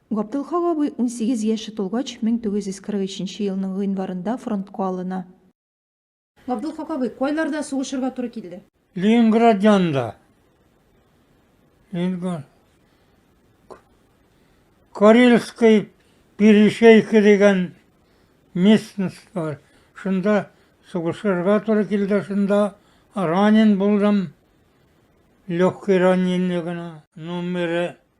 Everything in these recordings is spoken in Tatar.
Габделхак абый унсигез яше тулгач, 1943 елның гыйнварында фронтка алына. Габделхак абый, кайларда сугышырга туры килде? Ленинград янында. Ленинград. Карельский перешейка дигән местность бар. Шунда сугышырга туры килде, шунда ранен булдым. Легкий ранение гына. Номеры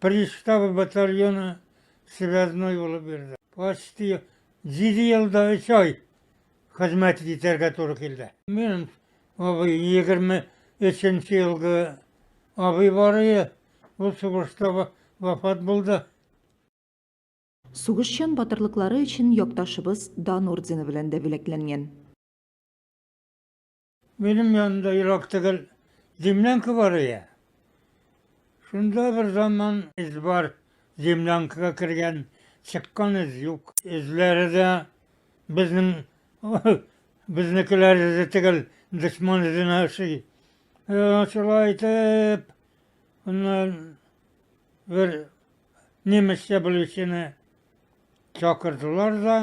Приставы батальоны связной булып йөрде. Почти җиде ел да өч ай хезмәт итәргә туры килде. Мин абый, егерме өченче елгы абый бар иде, ул сугышта вафат булды. Сугышчан батырлыклары өчен якташыбыз Дан ордены белән дә бүләкләнгән. Минем янымда ерак түгел землянка бар иде. Шунда бер заман эз бар, землянкага кергән, чыккан эз юк. Эзләре дә безнең безнекеләр эзе түгел, дошман эзенә ошый. Э, шулай итеп, аннан бер немецчә белүчене чакырдылар да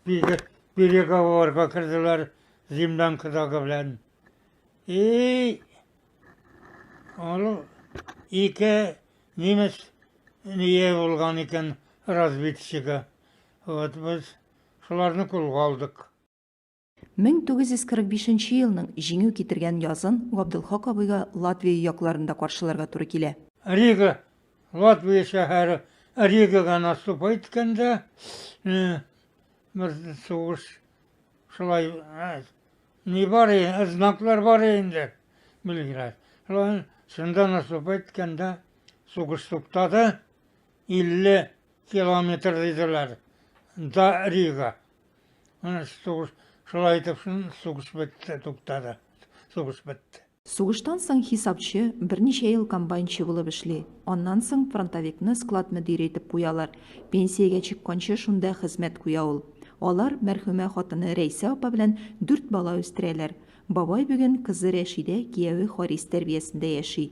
Бирек, бирек авылларга керделәр землянкадагы белән. И аны ике немец ние булган икән разведчигы. Вот без шуларны кулга алдык. 1945 нче елның җиңү китергән язын Габделхак абыйга Латвия якларында каршыларга туры килә. Рига, Латвия шәһәре. Ригага наступать иткәндә, бер сугыш шулай, ни бар, знаклар бар инде, Белград. Шулай, шунда наступать иткәндә, сугыш туктады, 50 километр диделәр, да Рига. Менә сугыш шулай итеп сугыш бетте, туктады. Сугыш бетте. Сугыштан соң хисапчы, берничә ел комбайнчы булып эшли. Аннан соң фронтовикны склад мөдире итеп куялар. Пенсиягә чыкканчы шунда хезмәт куя ул. Алар мәрхүмә хатыны Рәйсә апа белән дүрт бала үстерәләр. Бабай бүген кызы Рәшидә, кияве Харис тәрбиясендә яши.